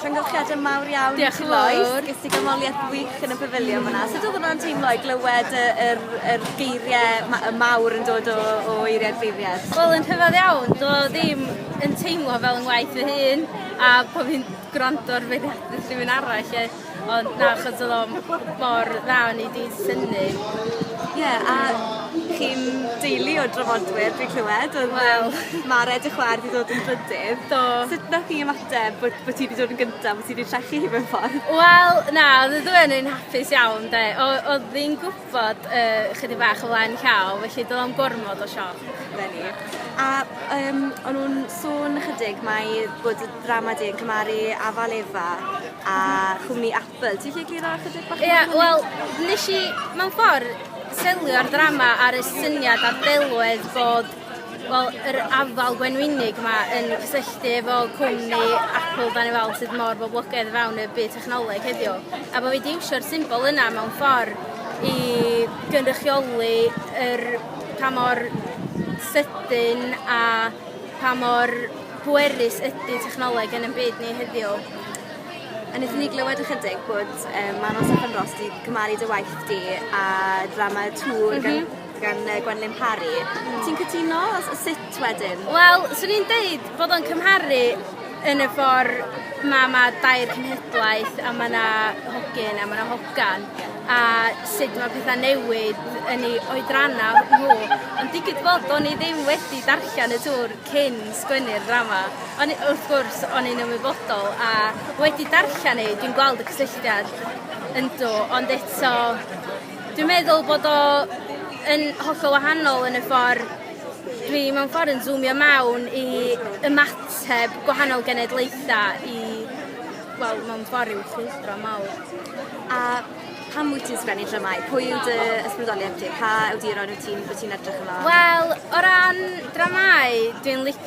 Llongyfarchiadau mawr iawn Diolch i ti Lois. Ges i ganmoliaeth wych yn y pafiliwn fyna. Sut oedd hwnna'n teimlo i glywed y yr yr geiriau ma- y mawr yn dod o o eiriau'r beirniaid? Wel yn rhyfedd iawn, do ddim yn teimlo fel 'yn ngwaith fy hun a bo' fi'n gwrando ar beirniadu'r rhywun arall 'lly. Ond na, achos oedd o mor dda o'n i 'di synnu. Ie, a chi'n deulu o drafodwyr dwi'n clywed, oedd Wel. yym ma' Red y Chwaer 'di dod yn drydydd. Do. Sut nath chi ymateb bod bo' ti 'di dod yn gynta bo' ti 'di trechu hi mewn ffordd? Wel, na, odd y ddwy o ni'n hapus iawn 'de. O- odd hi'n gwbwl fod yy chydig bach o flaen llaw felly do'dd o'm gormod o sioc 'da ni. A yym o'n nw'n sôn ychydig mai bod y ddrama 'di cymharu Afal Efa a Cwmni Apple ti 'llu egluro ychydig bach mwy? Ia wel nesh i mewn ffor selio'r ddrama ar y syniad a'r delwedd bod Wel, yr afal gwenwynig 'ma yn cysylltu efo cwmni Apple 'dan ni weld sydd mor boblogaidd o fewn y byd technoleg heddiw, a bo' fi 'di iwsio'r symbol yna mewn ffor i gynrychioli yr pa mor sydyn a pa mor bwerus ydi technoleg yn 'yn byd ni heddiw. A nethon ni glywed ychydig bod yym Manon Steffan Ros 'di cymharu dy waith di â drama Twr gan... M-hm. gan uh, Gwenlyn Parry. Mm. Ti'n cytuno? Sut wedyn? Wel, swn i'n deud bod o'n cymharu yn y ffordd mae ma dair cenhedlaeth a mae yna hogyn a mae yna hogan a sut mae pethau newid yn ei oedrannau nhw. Ond digwydd bod o'n i ddim wedi darllen y tŵr cyn sgwennu'r ddrama. Ond wrth gwrs, o'n i'n ymwybodol a wedi darllen ei, dwi'n gweld y cysylltiad ynddo, ond eto Dwi'n meddwl bod o yn hollol wahanol yn y ffordd dwi mewn ffordd yn zoomio mewn i ymateb gwahanol genedlaetha i wel mewn ffordd i'w chwyldro mawr. A pam wyt ti'n sgwennu dramâu? Pwy yw dy ysbrydoliaeth ti? Pa awduron wyt ti'n wyt ti'n edrych ymlaen? Wel o ran dramâu dwi'n licio